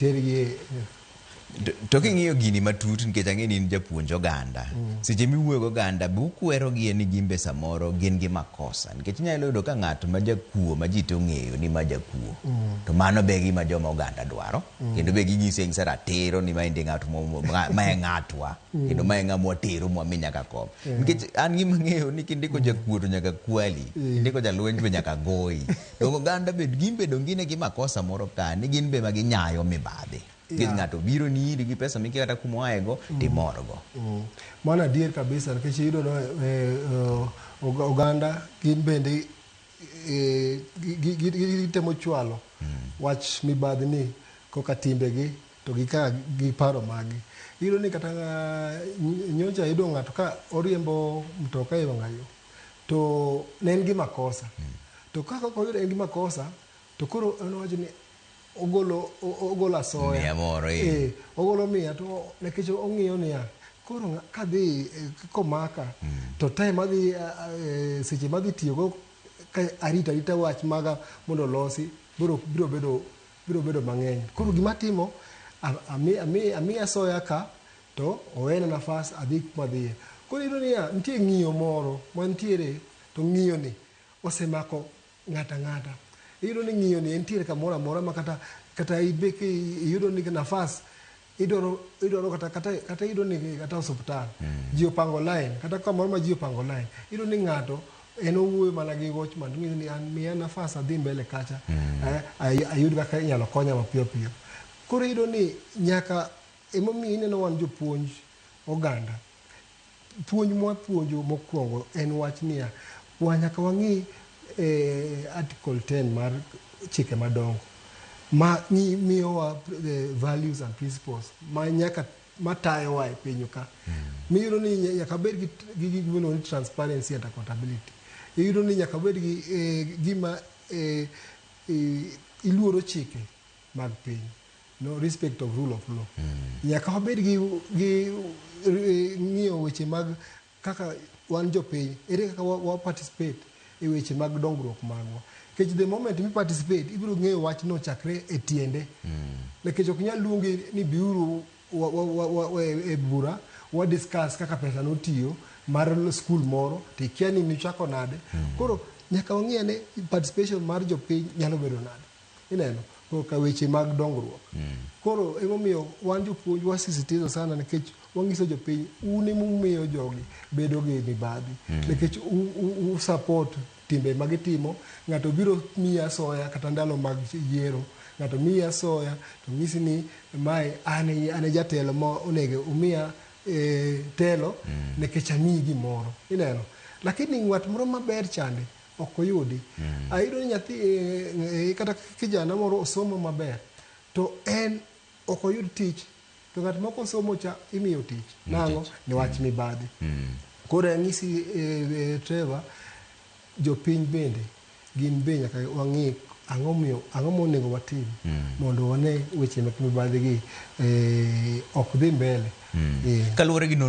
tergi e To- to king'iyo gini matut nikech ang'e ni in japuonj oganda seche miwuoyo goganda be ukwerogie ni gimbe samoro gin gi makosa nikech inyalo yudo ka ng'at ma jakuo ma ji to ong'eyo ni ma jakuo to mano be gima joma oganda dwaro kendo be ginyise ng'isa ratiro ni maendi ng'at mo- mo- ma- ma e ng'atwa kendo ma e ng'a mwatero mwami nyaka kom nikech an gima ng'eyo ni kindiko jakuo to nyaka kwali kindiko jalweny to nyaka goyi Donge oganda be gin be donge gine gi makosa moro ka ni gin be ma ginyayo mibadhi. Gi Yeah. ng'ato obironi iri gi pesa mikia kata kuma oaego to imorgo. Mm. Mano adier kabisa nikech iyudo no eh, eh, oga- oganda gin bende eh, gi- gi- gi- gi- gitemo chwalo wach mibadhi ni koka timbegi to gi ka gi paro maggi. Iyudo ni kata ah, ny- nyocha iyudo ng'ato ka oriembo mtoka e wang'ayo to ne en gi makosa to ka kaka oyudo en gi makosa to koro en owacho ni ogolo o- o- ogolo asoya Miya moro, eh. Eh, ogolo miya to nikech ong'iyo niya koro ng'a- kadhi eh, komaka to time madhi ah, ah, eh, seche madhi tiyogo ka arita arita wach maga mondo olosi biro biro bedo biro bedo mang'eny koro gima atimo a- ami- ami- amiya soya ka To owena nafas adhi kuma adhiye. Koro iyudo niya, nitie ng'iyo moro mantiere to ng'iyoni osemako ng'ato ang'ata. Iyudo ni ng'iyoni entiere kamoro amora ma kata kata ibe ki iyudo ni nafas idwaro idwaro kata kata kata iyudo ni kata osuptal ji opango lain kata kamoro ma ji opango lain. Iyudo ni ng'ato en owuoyo mana gi watchman to ong'iso ni an miya nafas adhi mbele kacha eh, ayud kaka inyalo konya mapiyo piyo. Koro iyudo ni nyaka Emomiyo ineno wan jopuonj oganda, puonj mwapuonjo mokwongo en wach niya, wa nyaka wang'i e, Article 10 mar chike madongo ma miyowa e, values and principles ma nyaka matayowa e pinyu ka. Mm. Miyudo ni nyaka bed gi, gi gik miluongo ni transparency and accountability. Iyudo ni nyaka bed gi e, gima e, e, iluoro chike mag piny. No respect of rule of law. Nyaka wabed gi, gi eh, ng'iyo weche mag kaka wan jopiny, ere kaka wa, wa participate e weche mag dongruok magwa. Nikech the moment mi participate, ibiro ng'eyo wachno chakre e tiende. Nikech ok nyal luongi ni biuru wa, wa, wa, wa, wa, e bura wa discuss kaka pesa notiyo mar skul moro to ikia ni nichako nade. Koro nyaka wang'e ane participation mar jopiny nyalo bedo nade. Ineno? To ka weche mag dongruok. Koro emomiyo wan jopuonj wasisitiza sana nikech wangiso jopiny un emumiyo jogi bedo gi mibadhi. Nikech u- u- u support timbe ma gitimo, ng'ato biro miyi asoya kata ndalo mag yiero, ng'ato miyi asoya to nyisi ni mae an e an e jatelo ma onego umiya eh, telo nikech amiyi gimoro. Ineno? Lakini ng'at moro maber chande ok oyudi. Ayudo ni nyathi eh, eh, kata kijana moro osomo maber to en ok oyud tich to ng'at moko osomo cha imiyo tich nang'o niwach mibadhi koro anyisi eh, eh, Trevor jopiny bende gin be nyaka wang'e ang'o miyo ang'o monego watim mondo wane weche mek mibadhi gi eh, ok dhi mbele Eh, Kaluwore gi nonro